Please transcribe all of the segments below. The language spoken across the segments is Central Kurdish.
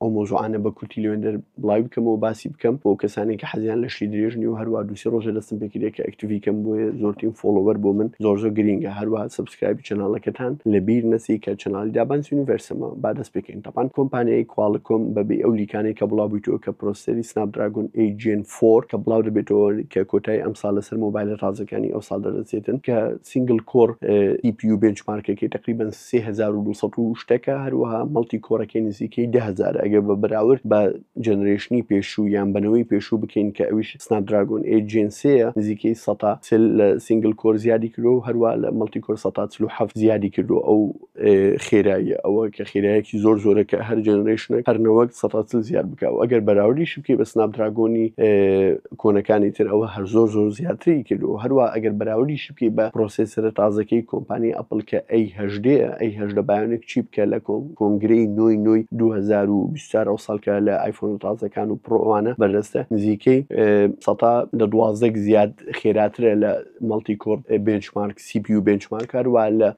ئەو مەوزوعانە بە کورتی لەوێندەر بڵاوی بکەمەوە باسی بکەم بۆ کەسانی کە حەزیان لە شتی درێژ نیە و هەروە دووسی ڕۆژە دەستم پێکردێک کە ئەکتیڤی کەم بۆیە زۆرترین فۆڵۆوەر بۆ من زۆر زۆر گرینگە هەروە سبسکرایبی چەناڵەکەتان لە بیر نەچی کە چەناڵی دابان یونیڤەرسەمە با دەست پێکەین تەپان کۆمپانیای کواڵکۆم بە بێ ئەو لیکانەی کە بڵاو بوویتەوە کە پرۆسەری سناپ دراگۆن ئەی جێن فۆر کە بڵاو دەبێتەوە کە کۆتایی ئەمساڵ لەسەر مۆبایلە تازەکانی ئەوساڵ دەردەچێتن کە سینگل کۆڕ ئی پی یو بێنچ مارکەکەی تەقریبەن سێ هەزار و دوو سەد و شتەکە هەروەها مەڵتی کۆرەکەی نزیکەی دە هەزارە ئەگەر بە بەراورد بە جەنرەیشنی پێشوو یان بە نەوەی پێشوو بکەین کە ئەویش سناپ دراگۆن ئەیت جێن سێیە نزیکەی سەتا چل لە سینگل کۆر زیادی کردووە و هەروا لە مەڵتی کۆر سەتا چل و حەفت زیادی کردووە ئەو خێراییە ئەوە کە خێرایەکی زۆر زۆرە کە هەر جەنرەیشنێک هەر نەوەک سەتا چل زیاد بکا و ئەگەر بەراوردیشی بکەی بە سناپ دراگۆنی کۆنەکانی تر ئەوە هەر زۆر زۆر زیاتری کردووە هەروە ئەگەر بەراوردیشی بکەی بە پرۆسێسەرە تازەکەی کۆمپانی ئەپڵ کە ئەی هەژدەیە ئەی هەژدە بایۆنێک چی بکە لە کۆم کۆنگرەی نۆی نۆی دوو هەزار و بیست و چوار ئەو ساڵکە لە ئایفۆنە تازەکان و پڕۆ ئەوانە بەردەستە نزیکەی سەتا لە دوازدەک زیاد خێراترە لە مەڵتی کۆر بنچمارک سی پی و بنچمارک هەروە لە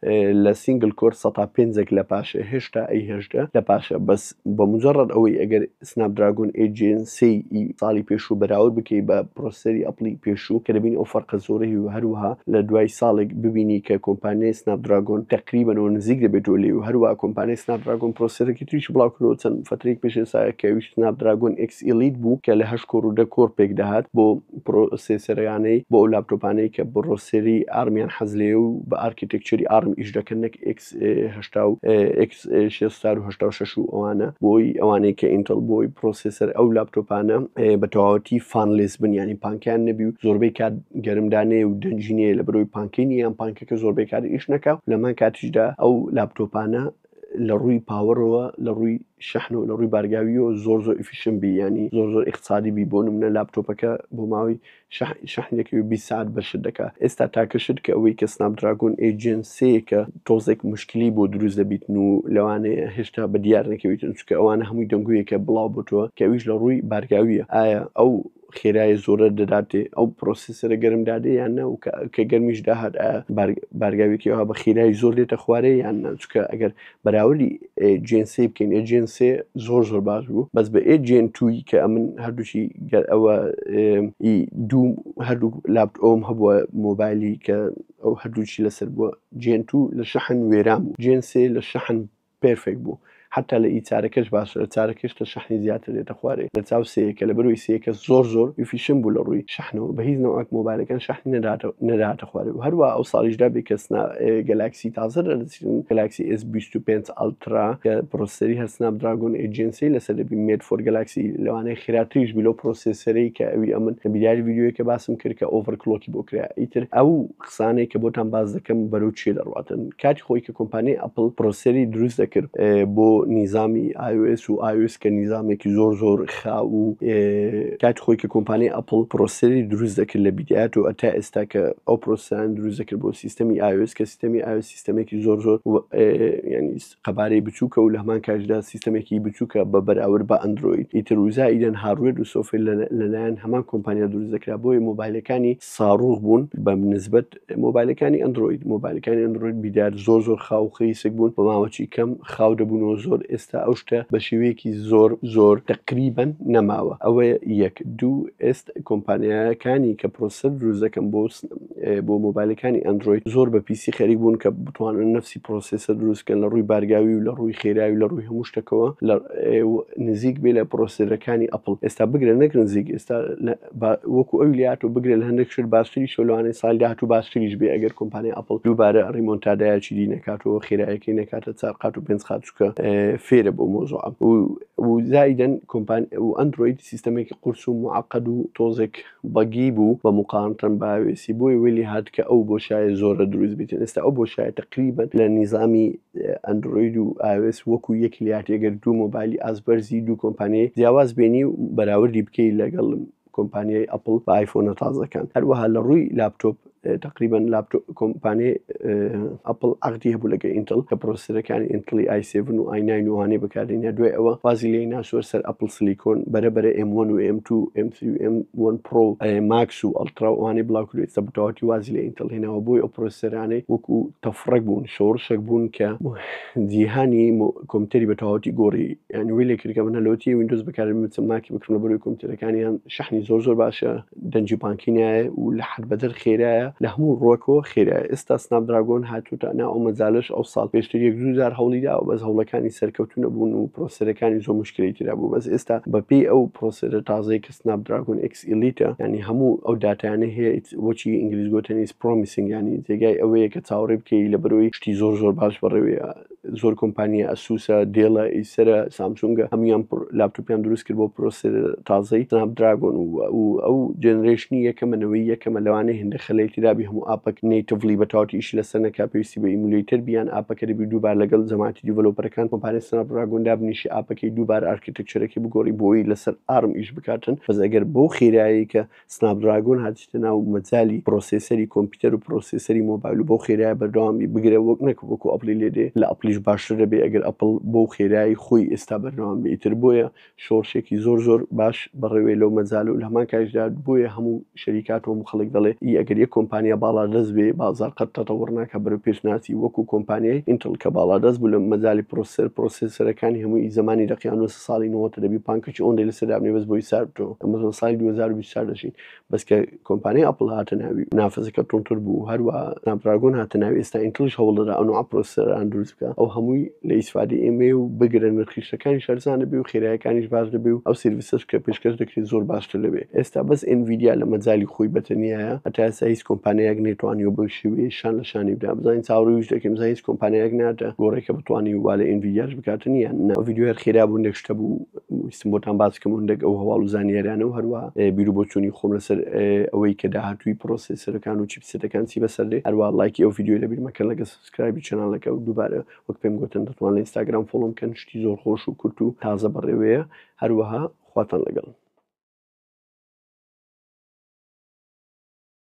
لە سینگل کۆر سەتا پێنجێک لە پاشە هێشتا ئەی هەژدە لە پاشە بەس بە مجرد ئەوەی ئەگەر Snapdragon 8 Gen 3 ی ساڵی پێشوو بەراورد بکەی بە پرۆسەری ئەپڵی پێشوو کە دەبینی ئەو فەرقە زۆرە هی و هەروەها لە دوای ساڵێک ببینی کە کۆمپانیای Snapdragon تەقریبەنەوە نزیک دەبێتەوە لێی و هەروەها کۆمپانیای Snapdragon پرۆسەرێکی تریشی بڵاو کردەوە چەند فەترەیەک پێش ئێستا کە ئەویش Snapdragon X Elite بوو کە لە هەشت کۆر و دە کۆر پێک دەهات بۆ پرۆسێسەرانەی بۆ ئەو لاپتۆپانەی کە پرۆسەری ئارمیان حەز لێیە و بە ئارکیتێکچەری ئارم ئیش دەکەن نەک ئێکس هەشتا و ئێکس شێ ستار و هەشتا و شەش و ئەوانە بۆی ئەوانەی کە ئینتڵ بۆی پرۆسێسەر ئەو لاپتۆپانە بە تەواوەتی فانلێس بن یانی پانکیان نەبی و زۆربەی کات گەرمدانەیە و دەنجینەیە لە برۆی پانکین یان پانکەکە زۆربەی کات ئیش نەکا لەمان کاتیشدا ئەو لاپتۆپانە لە ڕووی پاوەڕەوە لە ڕووی شەحن و لە ڕووی بارگاویەوە زۆر زۆر ئفیشن بی ینی زۆر زۆر اقتصادی بی بۆ منە لاپتۆپەکە بۆ ماوەی شەحن شەحنێکی و بیست سات بە شت دەکا ئێستا تاکە شت کە ئەوەی کە سناپ دراگۆن ئەی جێن سێیە کە تۆزێک مشکلی بۆ دروست دەبیتن و لەوانەیە هێشتا بە دیار نەکەویتن چونکە ئەوانە هەمووی دەنگۆیەکە بڵاو بۆتەوە کە ئەویش لە ڕووی بارگاویە ئایا ئەو خێرایە زۆرە دەداتێ ئەو پرۆسیسەرە گەرم دادێ یان نە و کە گەرمیش داهات ئایا بارگاوێکی ئەوها بە خێرای زۆر دێتە خوارێ یان نە چونکە ئەگەر بەراوردی ئێ جێن سێ بکەین ئێ جێن سێ زۆر زۆر باش بوو بەس بە ئێ جێن توی کە ئەمن هەردووشی گەر ئەوە دوو هەردوو لابت ئەوم هەبووە مۆبایلی کە ئەو هەردووچی لەسەر بووە جێن تو لە شەحن وێران بوو جێن سێ لە شەحن پێرفێک بوو حتا لە ئی چارەکەش باشە لە چارەکەش لە شەحنی زیاتر دێتە خوارێ لە چاو سەیەکە لە بەروی سەیەکە زۆر زۆر فیشم بوو لە ڕووی شەحنەوە بە هیچ نەوەک مۆبایلەکان شەحنی نەداتە نەداتە خوارێ و هەروە ئەو ساڵیشدا بێ کەسنا گەلاکسی تازە باشترین گەلاکسی ئێس بیست و پێنج ئەڵترا کە پڕۆسەری هەر سناپ دراگۆن ئێ جێن سێی لەسەر دەبی مێد فۆر گەلاکسی لەوانەیە خێراتریش بی لەو پڕۆسێسەرەی کە ئەوی ئەمن بیریاری ڤیدیۆیە کە باسم کرد کە ئۆڤەر کڵۆکی بۆ کرا ئیتر ئەو قسانەی کە بۆتان باس دەکەم بەرەو چێ دەڕواتن کاتی خۆی کە کۆمپانیای ئەپڵ پڕۆسەری دروست دەکرد بۆ نیزامی iOS و iOS کە نیزامێکی زۆر زۆر خا و کاتی خۆی کە کۆمپانیای ئەپڵ پرۆسەری دروست دەکرد لە بیدات و ئەتا ئێستا کە ئەو پرۆسیان دروست دەکرد بۆ سیستەمی ئاوس کە سیستەمی ئاو سیستەمێکی زۆر زۆر ینی قەبارەی بچووکە و لە هەمان کاژدا سیستەمێکی بچووکە بە بەراورد بە ئەندروید ئیتر وزا ئیدەن هاروێت و سۆفێ لەلایەن هەمان کۆمپانیا دروست دەکرا بۆیە مۆبایلەکانی ساڕوخ بوون بە نسبەت مۆبایلەکانی ئەندرۆید مۆبایلەکانی ئەندرۆید بیدار زۆر زۆر خاو خیسک بوون بە ماوەچی کەم خاو دەبوونەوە زۆر ئێستا ئەو شتە بە شێوەیەکی زۆر زۆر تقریبن نەماوە ئەوە یەک دوو ئێست کۆمپانیایەکانی کە پرۆسەر دروزەکەم بۆ بۆ مۆبایلەکانی ئەندرۆید زۆر بە پیسی خەریک بوون کە بتوانن نفسی پرۆسسە دروستکەن لە ڕووی بارگاوی و لە ڕووی خێراوی لە ڕووی هەموو شتەکەەوە لە نزیک بێ لە پرۆسەرەکانی ئەپل ئێستا بگرە نەک نزیک ئێستا وەکو ئەوی لاتۆ بگرە لە هەندێک شت باستری سۆلوانەی سال داهاتوو باستریش بێ ئەگەر کۆمپانیای ئەپل دووبارە ڕیمۆنتادایکی دی نەکاتەوە خێرایەکەی نەکاتە چار قات و پێنج قات چکە فێرە بۆ مۆزۆ و زایدن کۆمپان و ئەندروید سیستەمێکی قورس و معقد و تۆزێک بەگی بوو بە مقاانتەن باوێسی بۆی ویلی هات کە ئەو بۆ شایە زۆرە دروست بیتن ئێستا ئەو بۆ شایە تقریبن لە نیزامی ئەندرۆید و ئاوێس وەکو یەک لاتێ گەر دوو مۆبایلی ئاست بەرزی دوو کۆمپانیای جیاواز بێنی و بەراوردی بکەی لەگەڵ کۆمپانیای ئەپڵ بە ئایفۆنە تازەکان هەروەها لە ڕووی لاپتۆپ تقریبا لاپتۆپ کۆمپانیای ئەپل عقدی هەبوو لەگە ئینتل کە پرۆسەرەکانی ئینتلی ئایسێڤن و ئایناین وانەی بەکارێنە دوای ئەوە وازی لێ ناسوەر سەر ئەپل سلیکۆن بەرە بەرە M1 و M2 M3 M1 پرۆ ماکس و ئەلتراوانەی بڵاوکرێت سە بتەواتی وازی لە ئینتل هێناوە بۆی ئەو پرۆسەرانەی وەکو تەفڕەک بوون شۆڕشەک بوون کە جیهانی کۆمپیوتەری بە تەواوەتی گۆڕی یان وی لێ کردکە منە لەوتی وینندۆز بەکارم من چەند ماکی بکڕم لە بەروی کۆمپیوتەرەکانیان شەحنی زۆر زۆر باشە دەنجی بانکی نایە و لە حد بەدەر خێرایە لە هەموو ڕۆکەوە خێرایە ئێستا سناپ دراگۆن هاتوتە نا ئەو مەجالش ئەو ساڵ پێشتر یەک دوو جار هەوڵی داوە بەس هەوڵەکانی سەرکەوتو نەبوون و پرۆسەرەکانی زۆر مشکلی تێدا بوو بەس ئێستا بەپێی ئەو پرۆسەرە تازەی کە سناپ دراگۆن ئێکس ئیلیتە ینی هەموو ئەو داتایانە هەیە بۆچی ئینگلیز گوتنیس پرۆمیسنگانی جێگای ئەوەیە کە چاوەڕێ بکەی لە بەرۆی شتی زۆر زۆر باش بەڕێوەیە زۆر کۆمپانیە ئەسوسە دێڵە ئیسرە سامسونگە هەموان لاپتوپیان دروست کرد بۆ پرۆسێ تازەی سناپ دراگۆن و ئەو جێنرێشنی یەکەمەنەوەی یەکەمە لەوانێ هێندە خەلەیەکی دابی هەموو ئاپەک نەیتڤلی بە تاوتی ئیش لەسەر نەکا پێویستی بە ئیمولیتر بیان ئاپەکە دەبی دووبار لەگەڵ جەماعەتی دیڤلۆپەرەکان کۆمپانیای سناپ دراگۆن دابنیشی ئاپەکەی دووبار ئارکێ تێکچرەکەی بگۆڕی بۆی لەسەر ئارم ئیش بکاتن بەس ئەگەر بەو خێرایی کە سناپدراگۆن هاتیتە ناو مەجای پرۆسیسەری کۆمپیوتەر و پرۆسیسەری مۆبایل و بەو خێرای بەردەوامی بگرێ وەک نەک وەکو ئەپڵی لێ دێ لە ئەپڵیش باشتر دەبێ ئەگەر ئەپڵ بەو خێرایی خۆی ئێستا بەردەوام بێ ئیتر بۆیە شۆڕشێکی زۆر زۆر باش بەڕێوەیە لەو مەجالە و لە هەمان کاتیشدا بۆیە هەموو شەریکە ئاتۆم و خەڵک دەڵێ ی ئەگەر یەک کۆمپانیا باڵادەست بێ بازاڕ قەت تەتەوڕ ناکا بەرەو پێش ناچی وەکوو کۆمپانیای ئینتڵ کە باڵادەست بوو لە مەجالی پڕۆسسەر پڕۆسێسەرەکانی هەمووی ی زەمانی لە قیانووس ساڵی نۆهەتە دەبی پانکەکی ئۆنرەی لەسەر دابنێ بەس بۆی سارد بتۆ ئەمە لە ساڵی دوو هەزار و بیست و چوار دەژین بەس کە کۆمپانیای ئەپڵ هاتە ناوی نافەزەکە تونتر بوو هەروا سناپ دراگۆن هاتە ناوی ئێستا ئینتڵیش هەوڵ دەدا ئەو نەوعە پڕۆسسەران دروست بکا ئەو هەمووی لە ئیسفادەی ئێمەیە و بگرە نرخیشەکانیش هەرزانەبێ و خێرایەکانیش باش دەبێ و ئەو سێرڤیسەش کە پێشکەش دەکرێ زۆر باشتر دەبێ ئێستا بەس ئێنڤیدیا لە مەجالی خۆی بەتەنیایە هەتا ئێستا هیچ کۆمپانیایەک نەیتوانیوە بەو شێوەیە شان لە شانی بدا بزانین چاوەڕێی وش دەکەین بزانین هیچ کۆمپانیایەک ناتە گۆڕێ کە بتوانی وا لە ئێنڤیدیاش بکاتن یان نا ڤیدیۆ هەر خێرا بوو نەک شتە بوو ویستم بۆتان باس بکەم هەندێک ئەو هەواڵ و زانیاریانە و هەروە بیر و بۆچوونی خۆم لەسەر ئەوەی کە داهاتووی پرۆسێسەرەکان و چیپسێتەکان چی بەسەر دێ هەروە ڵایکی ئەو ڤیدیۆی لەبیر مەکەن لەگەس سکرایبی چەنالەکە و دووبارە وەک پێم گۆتن دەتوان لە ئینستاگرام فۆڵۆم بکەن شتی زۆر خۆش و کورت و تازە بەڕێوەیە هەروەها خواتان لەگەڵ.